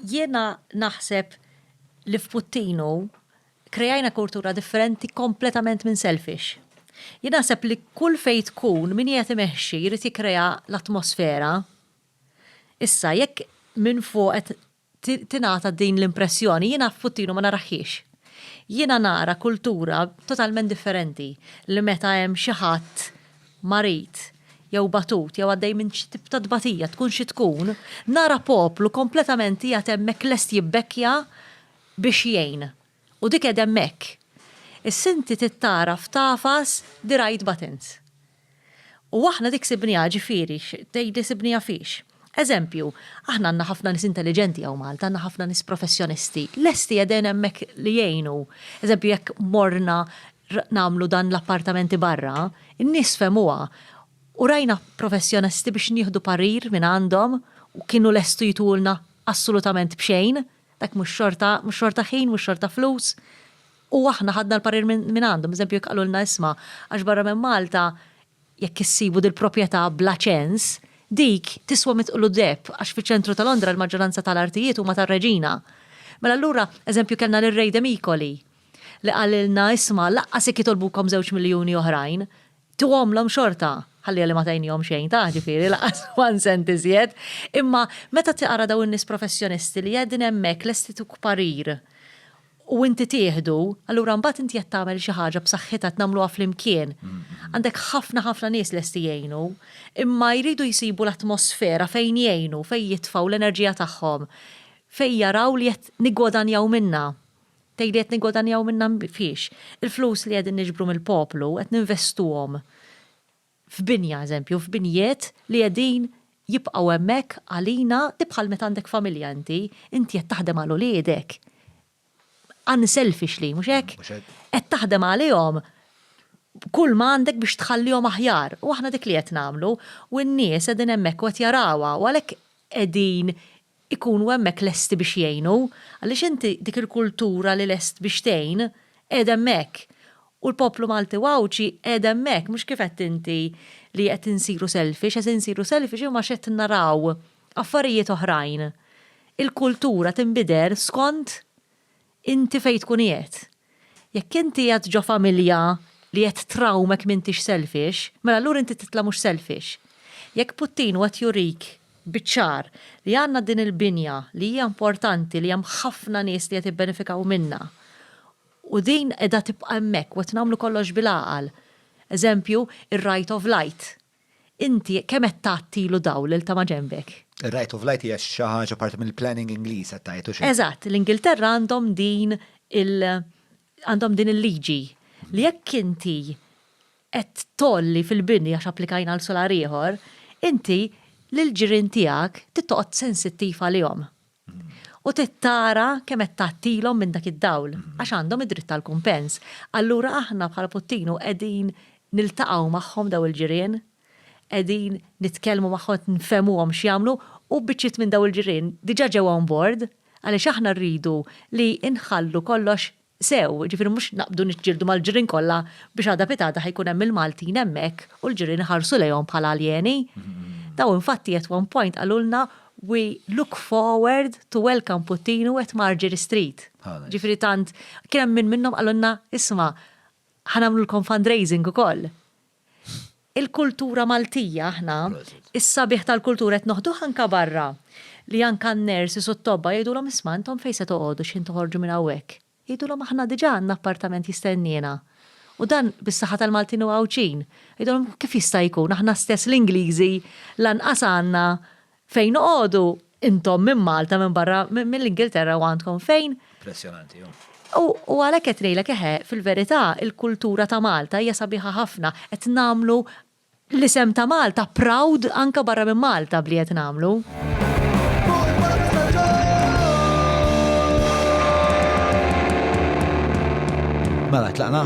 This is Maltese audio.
Jiena naħseb li f'Puttinu krejajna kultura differenti kompletament minn selfish. Jien naħseb li kull fejn tkun min qiegħed imexxi jrid jikkrea l-atmosfera. Issa jekk minn fuq qed tingħata din l-impressjoni jiena f'Puttinu ma narahhiex. Jiena nara kultura totalment differenti li meta hemm xi ħadd marid, jew batut, jew għaddej minn xi tip ta' tbatija, tkun xi tkun, nara poplu kompletament qiegħed hemmhekk lest jibbekkja biex jgħin. U dik qegħda hemmhekk. Issa inti trid tara f'tagħfas the right buttons. U aħna dik sibniha, ġifieri, tgħidli sibniha fiex? Eżempju, aħna għandna ħafna nies intelliġenti hawn Malta, għandna ħafna nies professjonisti, lesti qegħdin hemmhekk li jgħinu. Eżempju, jekk morna nagħmlu dan l-appartamenti barra, in-nies fehmuha u rajna professjonisti biex nieħdu parir minn għandhom u kienu lestu jtulna assolutament b'xejn, dak mhux xorta, mhux xorta ħin, mhux xorta flus, u aħna ħadna l-parir minn għandhom. Eżempju, jekk qalulna isma' għax barra minn Malta Jekk issibu dil-propjetà bla ċens, dik tiswa mitqlu deheb għax fiċ-ċentru ta' Londra l-maġġoranza ta' l-artijiet huma tar-Reġina. Mela allura, eżempju kellna lir-Ray de Micoli li qalilna isma' laqqas jekk jitolbukom żewġ miljuni oħrajn, tuhomlhom xorta. Ħalliha li ma tgħinnihom xejn tah, ġifieri, laqqas one cent iżjed. Imma meta taqra dawn in-nies professjonisti li qegħdin hemmhekk lesti tuk parir, u inti tieħdu, allura mbagħad inti qed tagħmel xi ħaġa b'saħħitha qed nagħmluha flimkien. Għandek ħafna ħafna nies lesti jgħinu, imma jridu jsibu l-atmosfera fejn jgħinu, fejn jitfgħu l-enerġija tagħhom, fejn jaraw li qed niggwadanjaw minnha. Tgħid li qed niggwadanjaw minnha fiex? Il-flus li qegħdin niġbru mill-poplu qed ninvestuhom f'binja, eżempju, f'binjiet li qegħdin jibqgħu hemmhekk għalina, di bħal meta għandek familja inti, inti qed taħdem għal uliedek, unselfishly, mhux hekk? Mhux hekk. Qed taħdem għalihom kull ma għandek biex tħallihom aħjar. U aħna dik li qed nagħmlu, u n-nies qegħdin hemmhekk u qed jarawha, u għalhekk qegħdin ikunu hemmhekk lesti biex jgħinu, għaliex inti dik il-kultura li lest biex tgħin qiegħda hemmhekk. U l-poplu Malti u Għawdxi qiegħed hemmhekk, mhux kif għedt inti li qed insiru selfish, qed insiru selfish imma għax qed naraw affarijiet oħrajn. Il-kultura tinbidel skont Inti fejn tkun qiegħed. Jekk inti qiegħed ġo familja li qed trawmek m'intix selfish, mela allura inti titla' mhux selfish. Jekk Putin hu qed jurik biċ-ċar li għandna din il-binja li hija importanti li hemm ħafna nies li qed jibbenefikaw minnha u din qiegħda tibqa' hemmhekk u qed nagħmlu kollox bil-għaqal, eżempju, ir-right of light. Inti kemm qed tagħtilu dawl lil ta' maġenbek? Ir-right of light hija xi ħaġa parti mill-planning Ingliż qed tgħid, hux hekk? Eżatt, l-Ingilterra għandhom din il għandhom din il-liġi li jekk inti qed tgħolli fil-bini għax applikajna għal solar ieħor, inti lill-ġirien tiegħek trid toqgħod sensittiv għalihom. u trid tara kemm qed tgħattilhom minn dak id-dawl, għax għandhom id-dritt għal kumpens. Allura aħna bħala Puttinu qegħdin niltaqgħu magħhom dawn il-ġirien, qegħdin nitkellmu magħhom qed nfehmuhom x'jagħmlu u biċċiet minn dawn il-ġirien diġà ġew on board għaliex aħna rridu li nħallu kollox sew, jiġifieri mhux naqbdu niġġieldu mal-ġirien kollha biex għada pitgħada ħa jkun hemm il-Maltin hemmhekk u l-ġirien iħarsu lejhom bħala aljeni. Daw infatti at one point qalulna we look forward to welcome Puttinu at Margery Street. Jiġifieri tant, kien hemm min minnhom qalulna isma' ħa nagħmlulkom fundraising ukoll. Il-kultura Maltija aħna, is-sabiħ tal-kultura qed noħduh anke barra, li anke n-nurses u t-tobba jgħidulhom isma' intom fejn se toqgħodu x'ħin toħorġu minn hawnhekk? Jgħidulhom aħna diġà għandna appartament jistenniena. U dan bis-saħħa tal-Maltin u Għawdxin. Jgħidulhom kif jista' jkun, aħna stess l-Ingliżi lanqas għandna Fejn noqogħdu intom minn Malta, minn barra, mill-Ingilterra u għandkom fejn? Impressjonanti, hu. U, u għalhekk qed ngħidlek, eħe, fil-verità, il-kultura ta' Malta hija sabiħa ħafna. Qed nagħmlu l-isem ta' Malta proud anke barra minn Malta b'li qed nagħmlu. Mela, tlaqna?